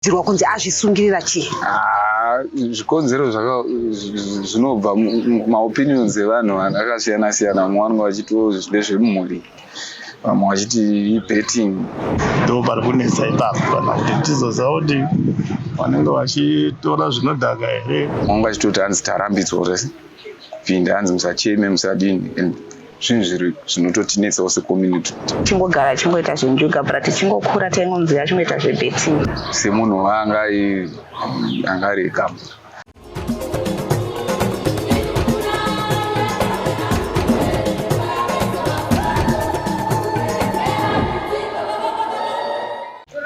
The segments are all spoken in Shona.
zvinokurudzirwa kunzi azvisungirira chii ah, zvikonzero zvinobva maopinions evanhu akasiyana siyana vamwe vanenge vachiti oh, ndezvemumhuri vamwe vachiti ibetting ndo pari kunetsa ipapo kana kuti tizoziva kuti vanenge vachitora zvinodhaka here vanenge vachitoti hanzi tarambidzwa zvese kupinda hanzi musacheme musadini zvinhu zviri zvinototinetsawo secommunity tichingogara achingoita zvenjuga but tichingokura taingonzi achingoita zvebeting semunhu waanga anga ari ekamba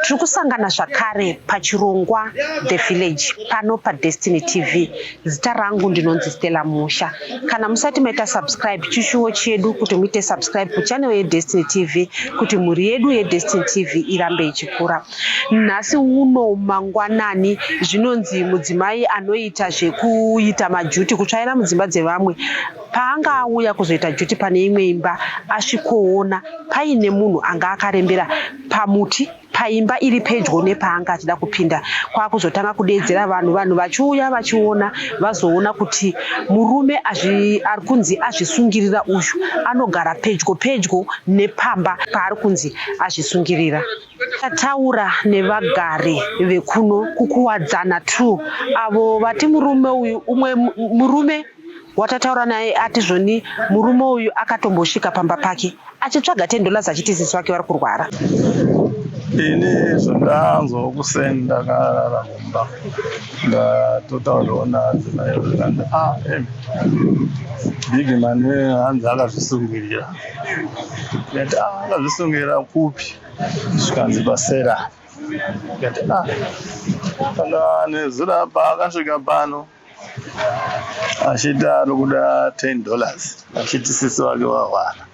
Tiri kusangana zvakare pachirongwa The Village pano paDestiny TV. Zita rangu ndinonzi Stella Musha. Kana musati maita subscribe chishuwo chedu kuti muite subscribe kuchannel yeDestiny TV kuti mhuri yedu yeDestiny TV irambe ichikura. Nhasi uno mangwanani zvinonzi mudzimai anoita zvekuita majuti kutsvaira mudzimba dzevamwe paanga auya kuzoita juti pane imwe imba asvikoona paine munhu anga akarembera pamuti paimba iri pedyo nepaanga achida kupinda kwakuzotanga kudeedzera vanhu vanhu vachiuya vachiona vazoona kuti murume ari kunzi azvisungirira uyu anogara pedyo pedyo nepamba paari kunzi azvisungirira tataura nevagari vekuno kukuwadzana true avo vati murume uyu umwe murume watataura naye ati zvoni murume uyu akatombosvika pamba pake achitsvaga ten dollars achiti sisi wake vari kurwara ini zvandanzwa kuseni ndakarara kumba ndatotauraona adzimai zvikanda a ah, big man hanzi akazvisungirira ndati ah, akazvisungirira kupi zvikanzi pasera ndati a ah, kana nezira paakasvika pano achiti ari kuda 10 dollars achiti sisi vake vahwara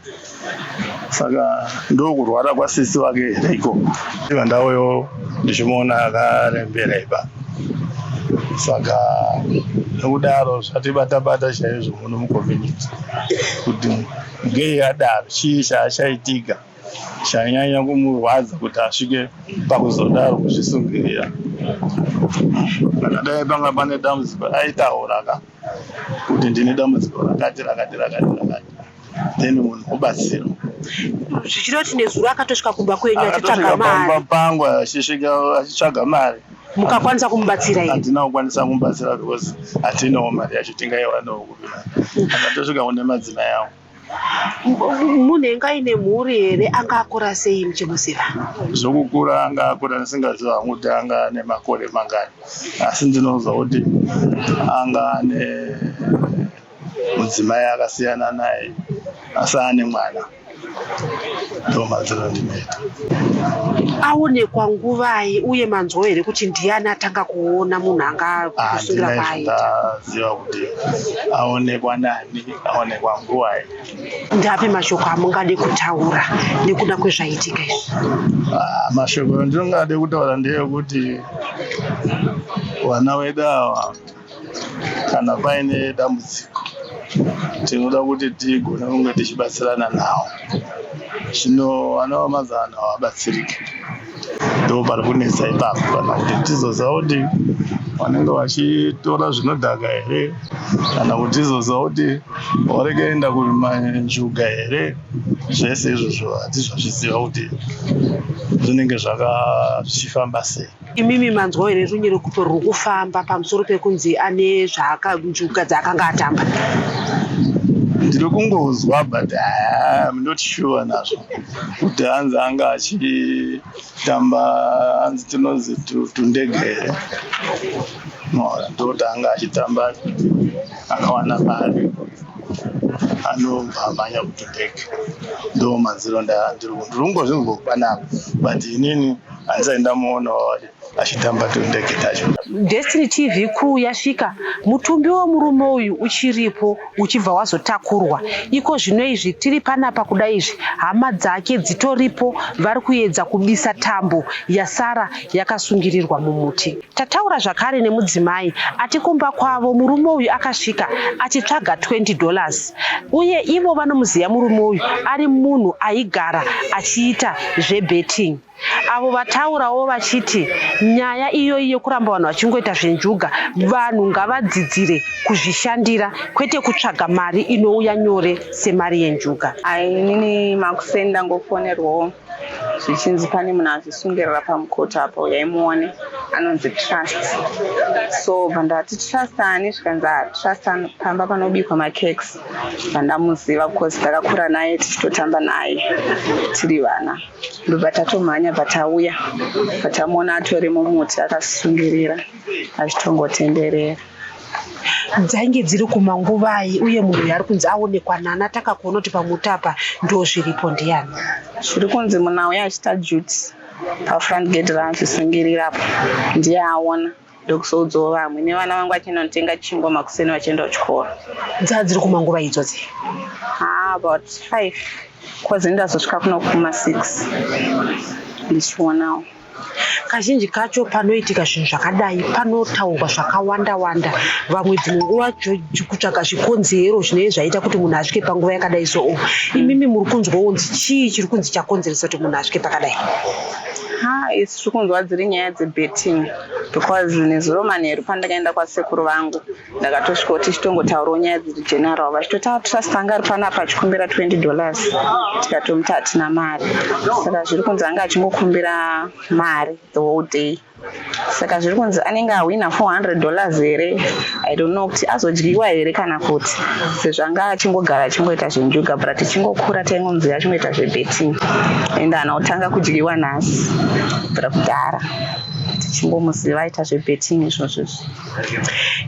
saka ndokurwara kwasisi vake here ikoko iva ndauyo ndichimuona akarembera ipa saka nokudaro zvatibatabata chaizvo muno mucommunity kuti ngei adaro chii chaachaitika chainyanya kumurwadza kuti asvike pakuzodaro kuzvisungirira kana dai panga pane dambudziko aitaura ka kuti ndine dambudziko rakati rakati rakati rakati then munhu obatsirwa zvichida kuti nezuro akatosvika kumba kwenyu achitsvaga mari pangu achisvika achitsvaga mari mukakwanisa kumubatsira here hatina kukwanisa kumubatsira because hatinawo mari yacho tingaiwanawo kupi akatosvika kune madzimai avo munhu enge aine mhuri here anga akura sei muchimuziva zvokukura anga akura ndisingaziva hangu kuti anga ane makore mangani asi ndinoziva kuti anga ane mudzimai akasiyana naye asi ane mwana ndomadzirondimeta aonekwa nguvai uye manzwo here kuti ndiani atanga kuona munhu anga kusungira kwaaiaziva kuti aonekwa nani aonekwa nguvai ndapi mashoko amungade kutaura nekuda kwezvaitika izvi ah, mashoko andinonga ade kutaura ndeyekuti vana vedu ava kana paine dambudziko tinoda kuti tigone kunge tichibatsirana nawo zvino vana vamazana havabatsirike ndo pari kunetsa ipapo kana kuti tizoziva kuti vanenge vachitora zvinodhaka here kana kuti tizoziva kuti varikuenda kumanjuga here zvese izvozvo hatizvazviziva kuti zvinenge zvaka zvichifamba sei imimi manzwa here runye rekuto ruri kufamba pamusoro pekunzi ane zvaakanjuga dzaakanga atamba ndiri kungozwa but ah, I'm not sure nazvo kuti hanzi anga achitamba hanzi tinozi tundege here ndokuti anga achitamba akawana mari anobva amhanya kuti ndege ndo manziro ndiri kungozvinzwa kupanapa but inini handisaindamuonawo achitamba tundege tacho. Destiny TV crew yasvika, mutumbi wemurume uyu uchiripo uchibva wazotakurwa. Iko zvino izvi tiri panapa kuda izvi, hama dzake dzitoripo vari kuedza kubisa tambo yasara yakasungirirwa mumuti. Tataura zvakare nemudzimai ati kumba kwavo murume uyu akasvika achitsvaga 20 dollars uye ivo vanomuziva murume uyu ari munhu aigara achiita zvebetting. avo vataurawo vachiti nyaya iyoyi yekuramba vanhu vachingoita zvenjuga vanhu ngavadzidzire kuzvishandira kwete kutsvaga mari inouya nyore semari yenjuga inini makuseni ndangofonerwawo zvichinzi pane munhu azvisungirira pamukoti apo yaimuone anonzi trust so bva ndati trust ani zvikanzi ah, trust pamba panobikwa makex bva ndamuziva bcause ndakakura naye tichitotamba naye tiri vana ndobva tatomhanya bva tauya bva tamuona atori mumuti akasungirira achitongotenderera dzainge dziri kumanguvai uye munhu yaari kunzi aonekwa nani ataka kuona kuti pamuti apa ndo zviripo ndiyani zviri kunzi munhu auya achita juti pafront gate raazvisungirirapo ndiye aona ndokuzoudzawo vamwe nevana vangu vachienda kunotenga chingwa makuseni vachienda kuchikoro dzaa dziri kumanguva idzo dzi ah, about five bcause ndazosvika kuno kuma six ndichionawo kazhinji kacho panoitika zvinhu zvakadai panotaurwa zvakawanda wanda vamwe dzimwe nguva kutsvaga zvikonzero zvinee zvaita kuti munhu asvike panguva yakadai so o imimi muri kunzwa wonzi chii chiri kunzi chakonzeresa kuti munhu asvike pakadai ha its tiri kunzwa dziri nyaya dzebetting because nezuro manheru pandakaenda kwasekuru vangu ndakatosvika kuti chitongotaurawo nyaya dziri general vachitoti atrust ah, anga ari panapa achikumbira 20 dollars tikatomuti hatina mari saka zviri kunzi anga achingokumbira mari the whole day saka zviri kunzi anenge ahwina 400 dollars here i don't know kuti azodyiwa here kana kuti sezvanga achingogara achingoita zvenjuga but tichingokura taingonzira achingoita zvebeting and anotanga kudyiwa nhasi bra kudhara tichingomuziva aita zvebeting izvozvo izvi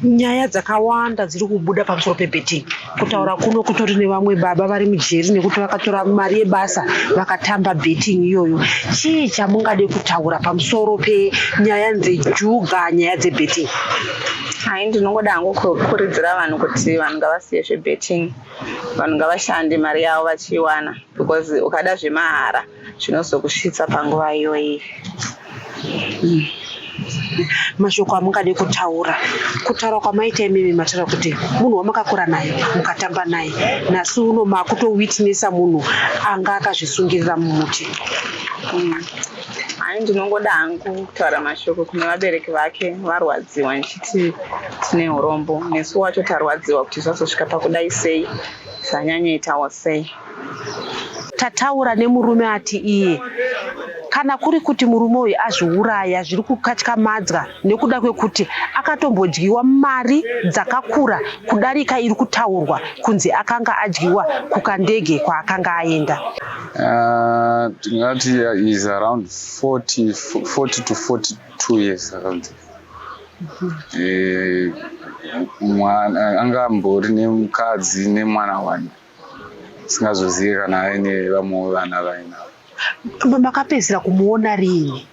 nyaya dzakawanda dziri kubuda pamusoro pebeting kutaura kuno kutori nevamwe baba vari mujeri nekuti vakatora mari yebasa vakatamba betting iyoyo chii chamungade kutaura pamusoro penyaya dzejuga nyaya dzebetting hai ndinongoda hangu kukuridzira vanhu kuti vanhu ngavasiye zvebetting vanhu ngavashande mari yavo vachiiwana because ukada zvemahara zvinozokusvitsa panguva iyoyi mm. mashoko amungade kutaura kutaura kwamaita imimi mataura kuti munhu wamakakura naye mukatamba naye nhasi uno makutowitnesa munhu anga akazvisungirira mumuti mm. hai ndinongoda hangu kutaura mashoko kune vabereki vake varwadziwa ndichiti tine urombo nesu wacho tarwadziwa kuti zvazosvika pakudai sei zvanyanyaitawo sei Tataura nemurume ati iye kana kuri kuti murume uyu azviuraya zviri kukatyamadzwa nekuda kwekuti akatombodyiwa mari dzakakura kudarika iri kutaurwa kunzi akanga adyiwa kukandege kwaakanga aenda ah, tingati is around 40, 40 to 42 years around eh, mwana anga ambori nemukadzi nemwana wani singazozivi kana aine vamwewo vana vainavo makapedzisira kumuona riini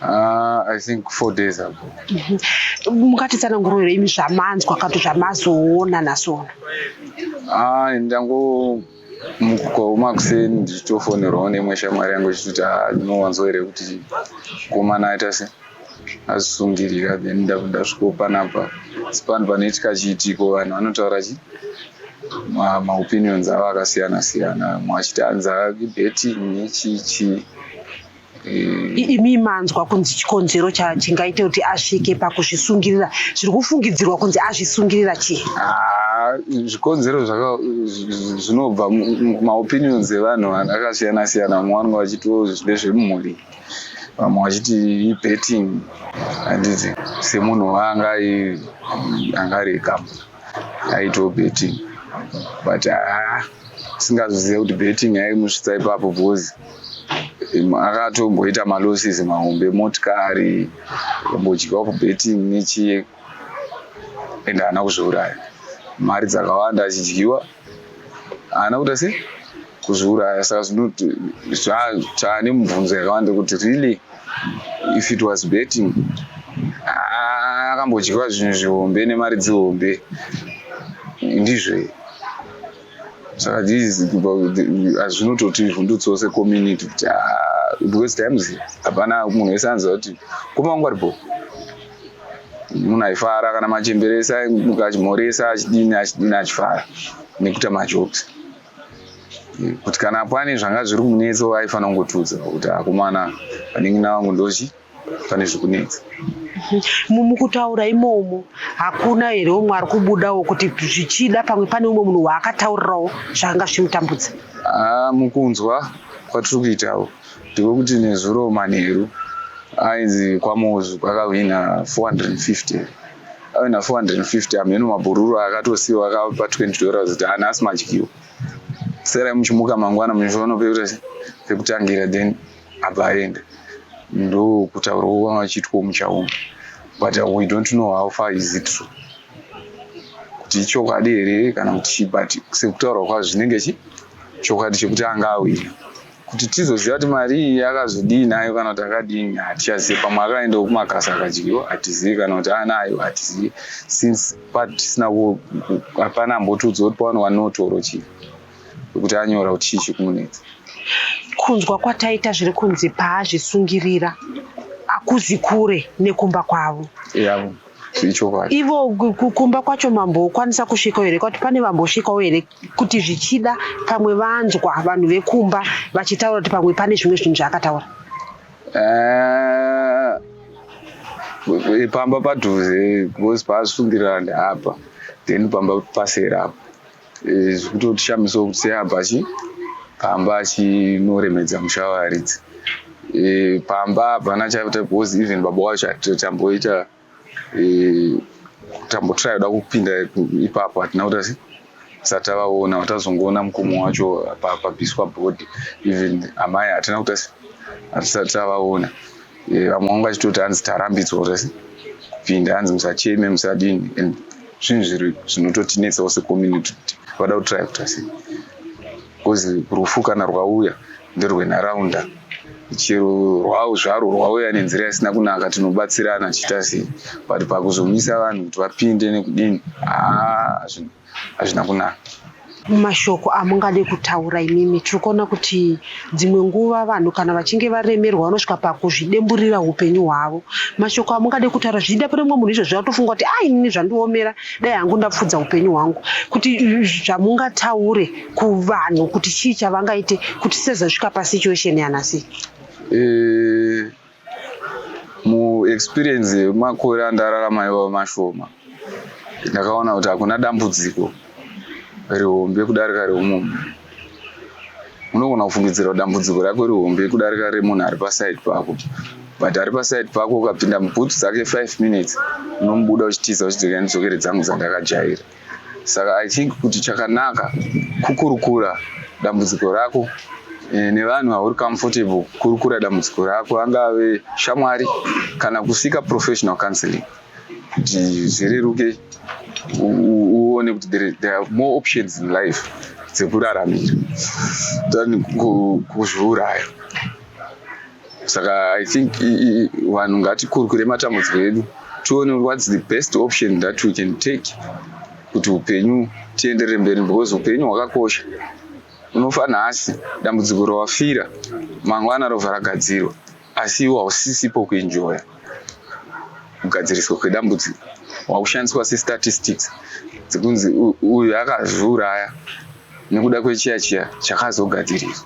Uh, I think four days ago. Mhm. Mukatitsanangurira imi zvamanzwa kato zvamazoona nasona. Ah, ndango mukukaoma kuseni ndichitofonerwawo nemwe shamwari yangu ichitoti ah, ndinowanzwa here kuti komana aita sei azvisungirira then ndasviko panapa asi panhu panoitika chiitiko vanhu vanotaura chi maopinions avo akasiyana siyana mwe achiti anza ibetting nechichii imi manzwa kunzi chikonzero chingaite kuti asvike pakuzvisungirira zviri kufungidzirwa kunzi azvisungirira chii ah, zvikonzero zvinobva maopinions evanhu akasiyana siyana mumwe vanenge vachitiwo ndezvemumhuri vamwe vachiti ibetting handiti semunhu waanga anga ari ekamu aitoo betting but haa singazozive kuti betting yaimusvitsa ipapo because akatomboita malosses mahombe motikari ambodyawo kubetting nechii ende haana kuzviuraya mari dzakawanda achidyiwa haana kuita sei kuzviuraya saka zvinoti chaane mubvunzo yakawanda kuti really if it was betting akambodyiwa zvinhu zvihombe nemari dzihombe ndizvo saka hazvinototi vhundutsose community kuti because times hapana munhu wese anziva kuti kumangu ari bho munhu aifara kana machemberesa mukachimhoresa achidini achidini achifara nekuita majokes kuti kana pane zvanga zviri kumunetsa aifanira kungotiudza kuti akomana vanin'ina vangu ndochi pane zviri kunetsa mumukutaura imomo hakuna here umwe ari kubudawo kuti zvichida pamwe pane umwe munhu waakataurirawo zvakanga zvichimutambudza ah, mukunzwa kwatiri kuitawo Ndiko kuti nezuro manheru ainzi kwaMozu kwakahwina 450 ave na 450 ameno mabhururu akatosiwa akapa 20 dollars kuti ana asi madyiwa serai muchimuka mangwana muchiona pekuti pekutangira then abva aenda ndokutaurwa kwanga vachiitwa muchauma but we don't know how far is it true kuti ichokwadi here kana kuti chii but sekutaurwa kwazvo zvinenge chi chokwadi chekuti anga awina Kuti tizoziva kuti mari iyi akazodii nayo kana kuti akadini hatichazivi. Pamwe akaendawo kumakasa akadyiwa hatizivi kana kuti anayo hatizivi since patisina hapana ambotiudza kuti pawani wanotoro chii kuti anyora kuti chii chikumunetsa. Kunzwa kwataita zviri kunzi paazvisungirira akuzi kure nekumba kwavo. Yavo. Yeah ichokwadi ivo kumba kwacho mambokwanisa kusvikawo here kwati pane vambosvikawo here kuti zvichida pamwe vanzwa vanhu vekumba vachitaura kuti pamwe pane zvimwe zvinhu zvaakataura eh, pamba padhuze because paasungirana apa then pamba pasera apa eh, zvikutotishamisa kuti seapa chi pamba achinoremedza musha waridzi eh, pamba hapana chaita because even baba wacho atamboita eh, tambotraya kuda kupinda ipapo hatina kuta satavaona watazongoona mukomo wacho pabviswa body even amai hatina kuta hatisati tavaona eh, vamwe vanga vachitoti hanzi tarambidzwa kuta kupinda hanzi musacheme musadini and zvinhu zviri zvinototinetsawo secommunity kuti vada kutraya kuta sei Kozi rufu kana rwauya nderwenharaunda chero rwavo zvaro rwauya nenzira isina kunaka tinobatsirana chiita sei but pakuzomisa vanhu kuti vapinde nekudini haa hazvina kunaka mumashoko amungade kutaura imimi tiri kuona kuti dzimwe nguva vanhu kana vachinge varemerwa vanosvika pakuzvidemburira upenyu hwavo mashoko amungade kutaura zvichida pane mumwe munhu izvozvo atofunga kuti a ah, inini zvandiomera dai hangu ndapfudza upenyu hwangu kuti zvamungataure kuvanhu kuti chii chavangaite kuti tisazosvika pasituation yanhasi eh, muexperience yemakore andararama iwawo mashoma ndakaona kuti hakuna dambudziko rihombe kudarika reumumhu unogona kufungidzira dambudziko rako rihombe kudarika remunhu ari paside pako but ari paside pako ukapinda mubhutsu dzake five minutes unomubuda uchitiza uchidzokera nedzokere dzangu dzandakajaira Saka I think kuti chakanaka kukurukura dambudziko rako eh, nevanhu vauri comfortable kurukura dambudziko rako angave shamwari kana kusika professional counseling kuti zvireruke uone kuti there are more options in life dzekuraramira than kuzviuraya saka i think vanhu ngatikurukure matambudziko edu tione whats the best option that we can take kuti upenyu tienderere mberi because upenyu hwakakosha unofa nhasi dambudziko rawafira mangwana rova ragadzirwa asi iwo hausisipo kuenjoya kugadziriswa kwedambudziko wakushandiswa sestatistics dzekunzi uyu akazviuraya nekuda kwechiya chiya chakazogadziriswa